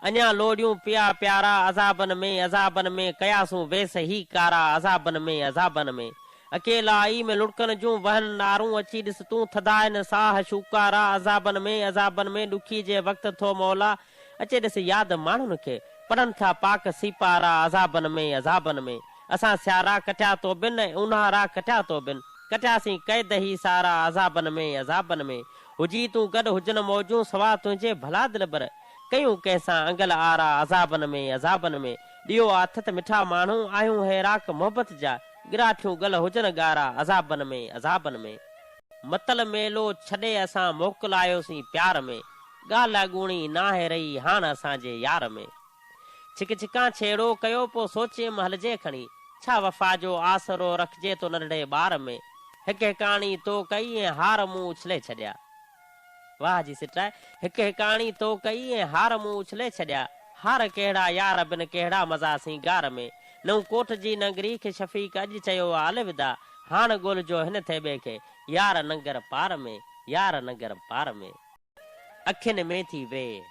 اڃا لوڙيون پيا پيارا عذابن ۾ عذابن ۾ ڪياسون ويس هي ڪارا عذابن ۾ عذابن ۾ اڪيلائي ۾ لڙڪن جون وهن نارون اچي ڏس تون ٿڌا هن ساهه شوڪارا عذابن ۾ عذابن ۾ ڏکي جي وقت ٿو مولا اچي ڏس ياد ماڻهن کي پڙهن ٿا پاڪ سيپارا عذابن ۾ عذابن ۾ اسان سيارا ڪٽيا تو بن ۽ اونهارا ڪٽيا تو بن ڪٽياسين قيد هي سارا عذابن ۾ عذابن ۾ هجي تون گڏ هجن موجون سوا تنهنجي ڀلا دلبر ڪيون ڪنهن سان انگل آرا عذابن ۾ عذابن ۾ ڏيئو آٿت مٺا ماڻهو آهيون هيراڪ محبت جا ڳراٺيون ڳل هجن ڳارا عذابن ۾ عذابن ۾ متل ميلو ڇڏي اسان موڪل آيوسين پيار ۾ ڳالهه اڳوڻي ناهي رهي هاڻ اسان جي يار ۾ ڇڪ ڇڪان ڇيڙو ڪيو پو سوچيم هلجي کڻي ڇا وفا جو آسرو رکجي تو ننڍڙي ٻار ۾ هڪ هڪاڻي تو ڪئي ۽ هار مون اڇلي ڇڏيا. واهه جي سٽاء هڪ هڪاڻي تو ڪئي ۽ هار مون اڇلي ڇڏيا هار ڪهڙا يار بن ڪهڙا مزا سينگار ۾ نئون ڪوٽ جي ننگري کي شفيق اڄ چيو آ الوداع هاڻ ڳولجو هن ٿي ٻئي کي يار ننگر پار ۾ يار ننگر پار ۾ اکين ۾ ٿي ويء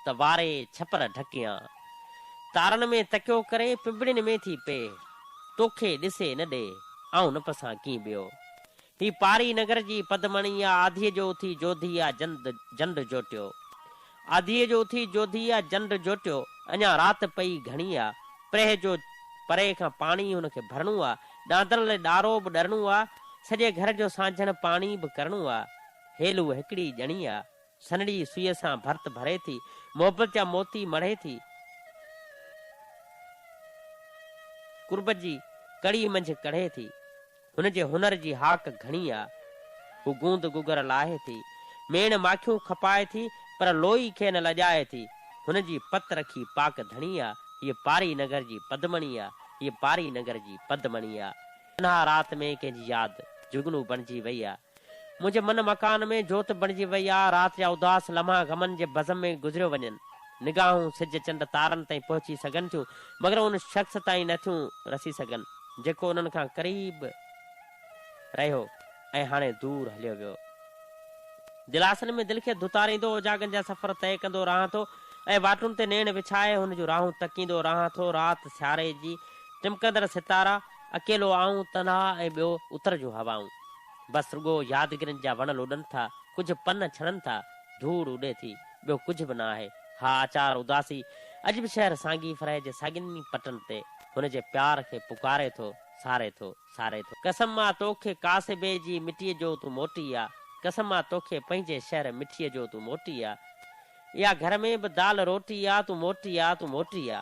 ته واري ڇپر ڍڪيان تارن ۾ تڪيو ڪري پنبڻين ۾ ٿي پيء توکي ڏسي نه ڏي آئون نه پسان ڪين ٻيو هي پاري نگر جي پدمڻي آ، آڌيء جو اٿي جوڌي آ جند جنڊ جوٽيو. آڌيء جو اٿي جوڌي آ جنڊ جوٽيو، اڃا رات پئي گهڻي آ، پرهه جو پري کان پاڻي هن کي ڀرڻو آ، ڏاندڻ لئه ڏارو به ڏرڻو آ، سڄي گهر جو سانجهڻ پاڻي به ڪرڻو آ. هيلو هڪڙي ڄڻي آ، سنهڙي سوئيء سان ڀرت ڀري ٿي، محبت جا موتي مڙهي ٿي. قربت جي ڪڙي منجهه ڪڙهي ٿي. هن جي هنر جي هاڪ گهڻي آ. هو گوند گوگر لاهي ٿي، ميڻ ماکيون کپائي ٿي، پر لوئي کي نه لڄائي ٿي. هن جي پت رکي پاڪ ڌڻي آ، هيء پاري نگر جي پدمڻي آ، هيء پاري نگر جي پدمڻي آ. اها رات ۾ ڪنهن جي ياد جهڳنو بڻجي وئي آ، منهنجي من مڪان ۾ جوت بڻجي وئي آ، رات جا اداس لمحا غمن جي بزم ۾ گذريو وڃن. نگاهون سج چنڊ تارن تائين پهچي سگهن ٿيون، مگر ان شخص تائين نه ٿيون رسي سگهن، جيڪو انهن کان قريب رهيو ۽ هاڻي دور هليو ويو. دلاسن ۾ دل کي ڌتاريندو اوجاڳن جا سفر طئي ڪندو رهان ٿو ۽ واٽن تي نيڻ وڇائي هن جون راهون تڪيندو رهان ٿو، رات، سياري جي ٽمڪندڙ ستارا، اڪيلو آئون، تنها ۽ ٻيو اتر جون هوائون. بس رڳو يادگيرن جا وڻ لڏن ٿا، ڪجهه پن ڇڻن ٿا، ڌوڙ اڏي ٿي، ٻيو ڪجهه به نه آهي. ها آچار اداسي اڄ به شهر سانگي فرهي جي ساڳين ئي پٽن تي هن جي پيار کي پڪاري ٿو، ساري ٿو، ساري ٿو. قسم آ توکي ڪاسبي جي مٽيء جو تون موٽي آ، قسم آ توکي پنهنجي شهر مٺيء جو تون موٽي آ. يا گهر ۾ به دال روٽي آ، تون موٽي آ، تون موٽي آ.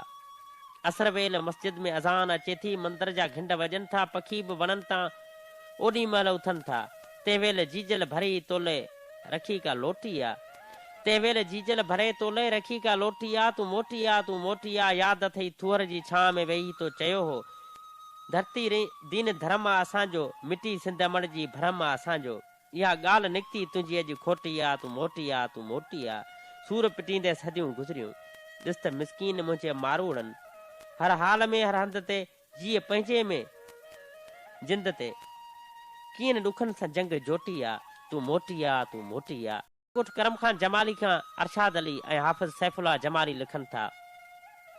عصر ويل مسجد ۾ اذان اچي ٿي، مندر جا گهنڊ وڄن ٿا، پکي به وڻن تان اوڏي مهل اٿن ٿا. تنهن ويل جيجل ڀري تولئي رکي ڪا لوٽي آ. تنهن ويل جيجل ڀري تولئي رکي ڪا لوٽي آ، تون موٽي آ، تون موٽي آ. ياد اٿئي ٿوهر جي ڇانء ۾ ويهي تو چيو هو، ڌرتي رين دين ڌرم آ اسان جو، مٽي سنڌ امڙ جي ڀرم آ اسان جو. اها ڳالهه نڪتي تنهنجي اڄ کوٽي آ، تون موٽي آ، تون موٽي آ. سور پٽيندي صديون گذريون. ڏس ته مسڪين منهنجي ماروئڙن. هر حال ۾ هر هنڌ تي جيء پنهنجي ۾ جند تي. ڪين ڏکن سان جنگ جوٽي آ، تون موٽي آ، تون موٽي آ. ڳوٺ ڪرم خان جمالي کان ارشاد علي ۽ حافظ سيف الله جمالي لکن ٿا،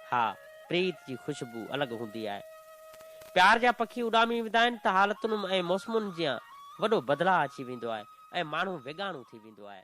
ها، پريت جي خوشبو الڳ هوندي آهي. پيار جا پکي اڏامي ويندا آهن ته حالتن ۽ موسمن جيان وڏو بدلاء اچي ويندو آهي ۽ ماڻهو ويڳاڻو ٿي ويندو آهي.